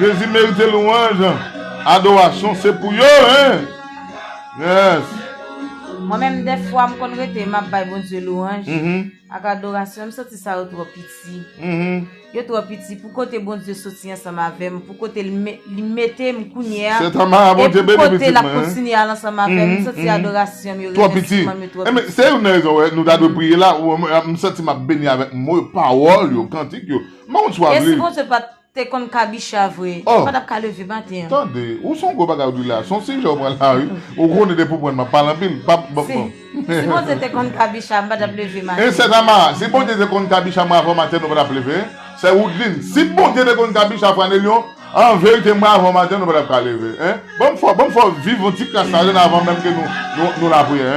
Jezi merite louanj, adorasyon se pou yo hein! Yes! Mwen menm dèfwa m konn rete map bay Bondye louanj ak adorasyon m santi sa yo twò piti yo twò piti pou kote Bondye soti ansanm avèm pou kote li mete m kounye a e pou kote lap kontinye al ansanm avèm m santi adorasyon m yo remèsiman m yo twò piti. Se youn nan rezon wè nou ta dwe priye la m santi map beni avèk mo yo pawòl yo kantik yo m pa konn swa vle. Te konn kabicha vre. Ou pa tap ka leve maten an. Tande, ou son gwo bagay ou di la. Son sijè ou pran la wi. Ou konnen depi ou pran map pale anpil. Si Bondye te konn kabicha m pa tap leve maten. Sè Tamara, si Bondye te konn kabicha mwen avan maten nou pa tap leve. Sè Woudlin, si Bondye te konn kabicha Franelyon an verite mwen avan maten nou pa tap ka leve. Banm fè viv yon ti kras la jan avan menm ke nou lapriyè.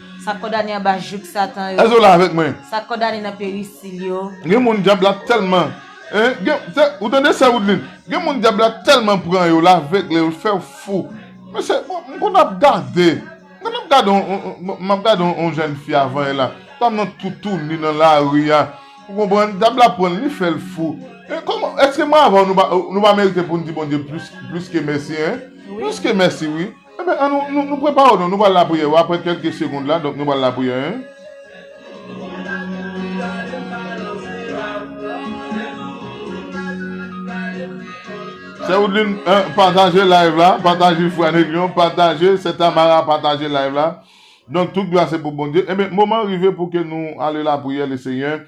Sa k kondane anba jouk Satan yo. Èske w la avèk mwen? Sa k kondane nan perisil yo. Gen moun dyab la tèlman. Ou tande sè Woodline? Gen moun dyab la tèlman pran yo, l avegle yo, l fè yo fou. Mesye, m konn ap gade. M konn ap gade yon, m ap gade yon jèn fi avan yè la. Fanm nan toutouni nan lari a. Ou konprann? Dyab la pran l, li fè l fou. Èske mwen avè w nou pa merite pou n di Bondye plis ke mèsi, hein? Plis ke mèsi wi. Enben, an nou, nou, nou prepare w non. Nou pral lapriyè yo apre kèlke segond la. Donk, nou pral lapriyè en. Sè Woudline, en, pataje live la. Pataje Frè Anelion. Pataje Sè Tamara. Pataje live la. Donk, tout glwa se pou Bondye. Enben, moman rive pou ke nou ale lapriyè Lesenyè.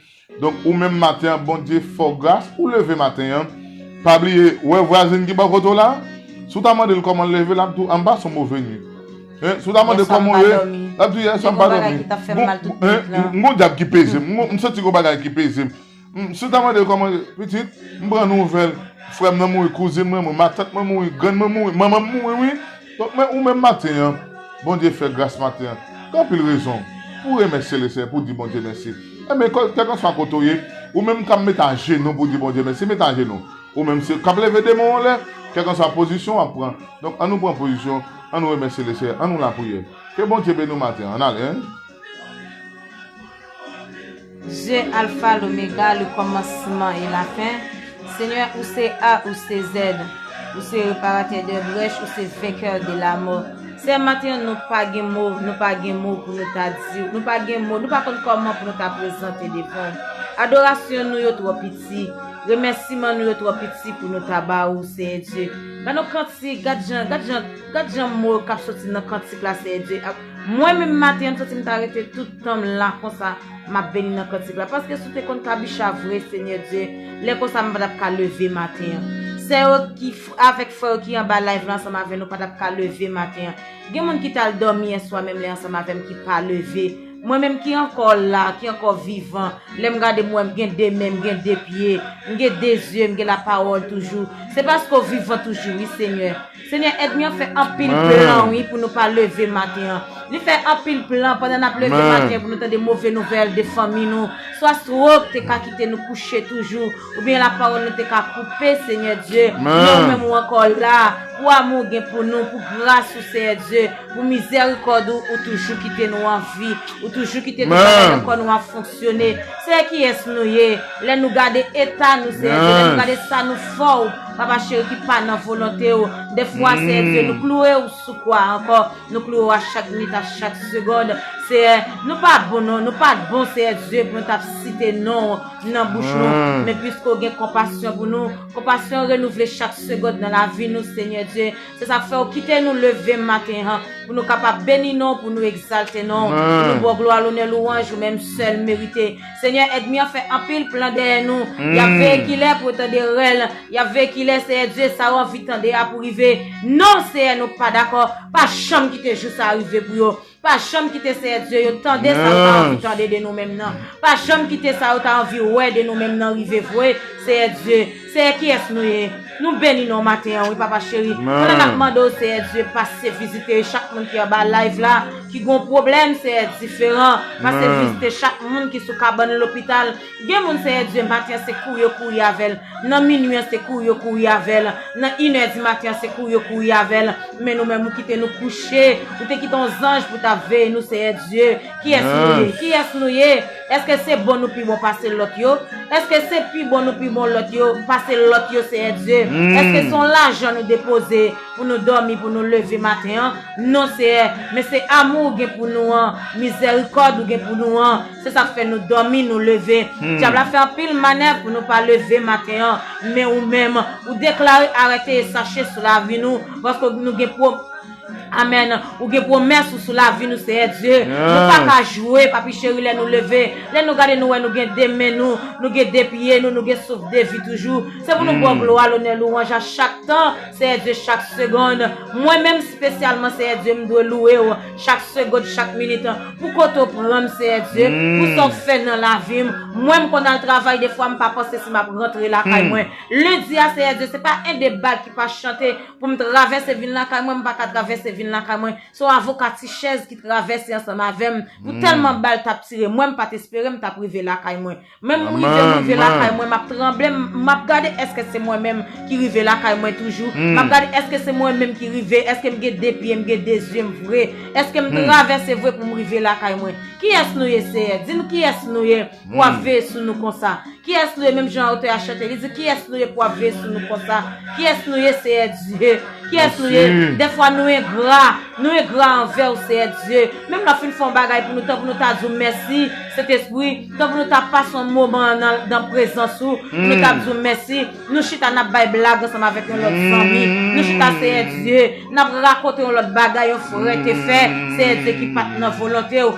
Donk ou menm maten an Bondye fè w gras ou leve maten an pa bliye ou wè vwazin ki bò kote w la si w ta mande l kòman l leve l ap di w an m pa son move nuit hein si w ta mande l kòman w ye l ap di w yè swa m pa dòmi m gon dyab ki peze m m santi gon bagay ki peze m si w ta mande l kòman pitit m pran nouvèl frè m nan mouri kouzin mwen mouri matant mwen mouri grann mwen mouri manman m mouri wi Donk men ou menm maten an, Bondye fè gras maten an, gen anpil rezon pou remèsye Leseyè, pou di Bondye mèsi. Enben, kèlkanswa kote ou ye, ou menm k'ap met ajenou pou di Bondye mèsi, met ajenou. Ou menm se k'ap leve de men w anlè, kèlkanswa pozisyon w'ap pran, donk an nou pran pozisyon, an nou remèsye Leseyè, an nou lapriyè. Ke Bondye beni w maten an, an ale. Je alfa lomega le komansman e la fen Senyè ou se A ou se Z Ou se reparatè de brèch ou se venkè de la mò Se maten nou pa gen mo nou pa gen mo pou nou ta di nou pa gen mo nou pa konn koman pou nou ta prezante devan Adorasyon nou yo tro piti remèsiman nou yo tro piti pou nou ta ba ou Senyè Dye Ba nou kantik gad jan gad jan gad jan mo kap soti nan kantik la Senyè Dye Mwen menm maten an santim ta rete tout tanm la konsa map beni nan kantik la paske si w te konn kabicha vre senyè Dye lè konsa m patap ka leve maten an sè yo ki avèk frè yo ki anba live la ansanm avè nou patap ka leve maten an gen moun ki tal dòmi yèswa menm lè ansanm avèm ki pa leve mwen menm ki ankò la ki ankò vivan lèm gade m wè m gen de men m gen de pye m gen de zye m gen la pawòl toujou se paske w vivan toujou wi senyè. Senyè èdmi an fè anpil plan wi pou nou pa leve maten an li fè anpil plan pandan nap leve maten an pou nou tande move nouvèl de fanmi nou swa strok te ka kite nou kouche toujou oubyen la pawòl nou te ka koupe senyè Dye men ou menm ou ankò la pou amou ou gen pou nou pou gras ou seyè Dye pou mizèrikòd ou ou toujou kite nou anvi ou toujou kite tout bagay nan kò nou ap fonksyone seyè kiyès nou ye lè nou gade eta nou seyè Dye lè nou gade sa nou fò ou. Papa cheri ki pa nan volonte ou Defwa seyè Dye nou klouwe ou sou kwa ankò Nou klouwe ou a chak minit a chak segond Seyè nou pa bon non Nou pat bon seyè Dye pou nou tap site non ou nan bouch nou Men piske ou gen konpasyon pou nou Konpasyon ou renouvle chak segond nan lavi nou Senyè Dye Se sak fè ou kite nou leve maten an Pou nou kapab beni non ou pou nou egzalte non ou Pou nou ba w glwa lonè louwanj ou menm sèl merite Senyè èdmi an fè anpil plan dèyè nou yap veye kilè pou yo tande rèl yap veye kilè Senyè Dye sa ou anvi tande a pou rive non Senyè nou pa dakò pa janm kite jou sa rive pou yo pa janm kite Senyè Dye yo tande sa ou ta anvi tande de nou menm nan pa janm kite sa ou ta anvi wè de nou menm nan rive vwe Senyè Dye Seyè kiyes nou ye Nou beni non maten an wi papa cheri Pandan nap mande w seyè Dye pase vizite chak moun ki anba live la ki gon pwoblèm seyè diferan pase vizite chak moun ki sou kabann lopital gen moun seyè Dye maten an se kouri yo kouri avèl nan minwi an se kouri yo kouri avèl nan inè di maten an se kouri yo kouri avèl men nou menm ou kite nou kouche ou te kite yon zanj pou ta veye nou seyè Dye kiyes nou ye kiyes nou ye. Eske se bon nou pi bon pase lot yo? Eske se pi bon nou pi bon lot yo pase lot yo Seyè Dye? Eske se yon lajan nou depoze pou nou domi pou nou leve maten an? Non Seyè, men se amou ou gen pou nou an, mizerikod ou gen pou nou an, se sak fè nou domi nou leve. Dyab la fè anpil manèv pou nou pa leve maten an, men ou menm ou deklare arete e sache sou lavi nou paske nou gen. Amen ou gen promes ou sou la vi nou seyè Dieu nou pa ka joue papi cheri lè nou leve lè nou gade nou wè nou gen de men nou nou gen de pye nou nou gen souf de vi toujou se pou nou baw glwa lonè louwanj a chak tan seyè Dieu chak segond mwen menm spesyalman seyè Dieu m dwe loue ou chak segond chak minit pou kote ou pran m seyè Dieu pou sa ou fè nan la vim mwen m konn al travay de fwa m pa panse si map rantre lakay mwen lendi a seyè Dieu se pa 1 2 bal ki pa chante. Pou m travèse vin lakay mwen, m pa ka travèse vin lakay mwen. Se yon avoka ti chèz ki travèse ansanm avè m. Pou tèlman bal t ap tire mwen, m pa t espere m t ap rive lakay mwen. Men m rive, m rive lakay mwen, m ap tranble, m ap gade èske se mwen menm ki rive lakay mwen toujou. M ap gade èske se mwen menm ki rive, èske m gen de pye, m gen de zye m vre. Èske m travèse vre pou m rive lakay mwen. Kiyès nou ye, Seyè? Di nou kiyès nou ye. pou ap veye sou nou konsa? Kiyès nou ye menm jan otè a chante li di kiyès nou ye pou ap veye sou nou konsa? Kiyès nou ye Seyè Dye? Kiyès nou ye? Dèfwa nou engra, nou engra anvè ou Seyè Dye. Menm lè w fin fè yon bagay pou nou tan pou nou ta di w mèsi Sentespri, tan pou nou ta pase yon moman nan prezans ou, pou nou ta di w mèsi, nou chita n ap bay blag ansanm avèk yon lòt zanmi, nou chita Seyè Dye, n ap rakonte yon lòt bagay yon frè te fè Seyè Dye ki pa t nan volonte ou.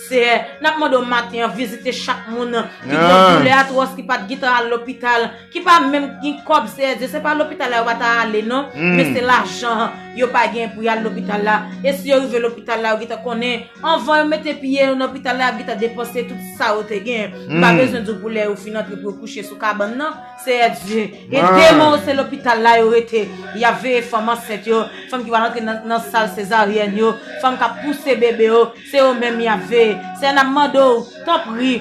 Seyè, n ap mande w maten an vizite chak moun ki gen doulè atwòs, ki pa t gitan al lopital, ki pa menm k gen kòb, Seyè Dye, se pa lopital la yo pa ta ale non, men se lajan an yo pa genyen pou y al lopital la, e si yo rive lopital la yo gentan konnen, anvan yo mete pye yo nan lopital la y ap gentan depanse tout sa yo te genyen, m pa bezwen di w pou lè yo fin antre pou yo kouche sou kabann nan, Seyè Dye, e deman yo se lopital la yo rete, y ap veye fanm ansent yo, fanm ki pral antre nan sal sezaryèn yo, fanm k ap pouse bebe yo. Se yo menm y ap veye. Seyè n ap mande w, tanpri,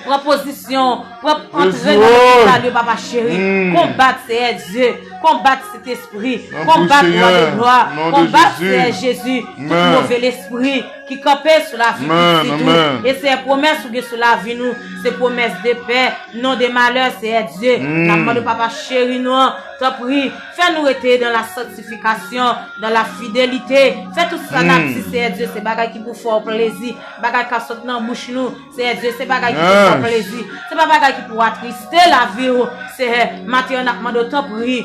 pran pozisyon, pran antre nan lopital yo papa cheri, konbat Seyè Dye, konbat Sentespri, konbat Wa de Glwa, konbat Seyè Jezi, tout move lespri ki kanpe sou lavi pitit ou, e Seyè pwomès ou gen sou lavi nou, se pwomès de pè, non de malè Seyè Dye, n ap mande w papa cheri nou an, tanpri. Fè nou rete dan la sanktifikasyon, dan la fidelite. Fè tout sa n ap di, Seyè Dye, se bagay ki pou fè w plezi, bagay k ap sot nan bouch nou, Seyè Dye, se bagay ki pou fè w plezi. Se pa bagay ki pou atriste lavi w, Seyè. Maten an, n ap mande w, tanpri,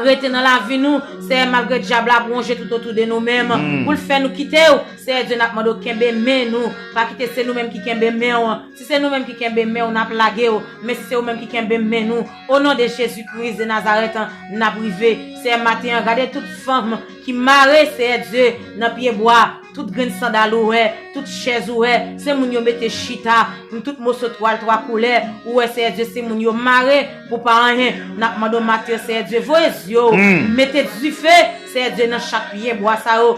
rete nan lavi nou, Seyè, malgre dyab la ap wonje toutotou de nou menm pou l fè nou kite w, Seyè Dye. N ap mande w, kenbe men nou, pa kite se nou menm ki kenbe men w. Si se nou menm ki kenbe men w, n ap lage w, men si se ou menm ki kenbe men nou, O non de jezi kris de nazarèt an nap rive seyè maten an gade tout fanm ki mare seyè dye nan pye bwa tout grenn sandal ou wè tout chèz ou wè se moun yo mete chita m tout moso twal twa koulè ou wè seyè dye se moun yo mare pou pa anyen nap mande w maten an seyè dye voye zye w mete dife seyè dye nan chak pye bwa sa yo.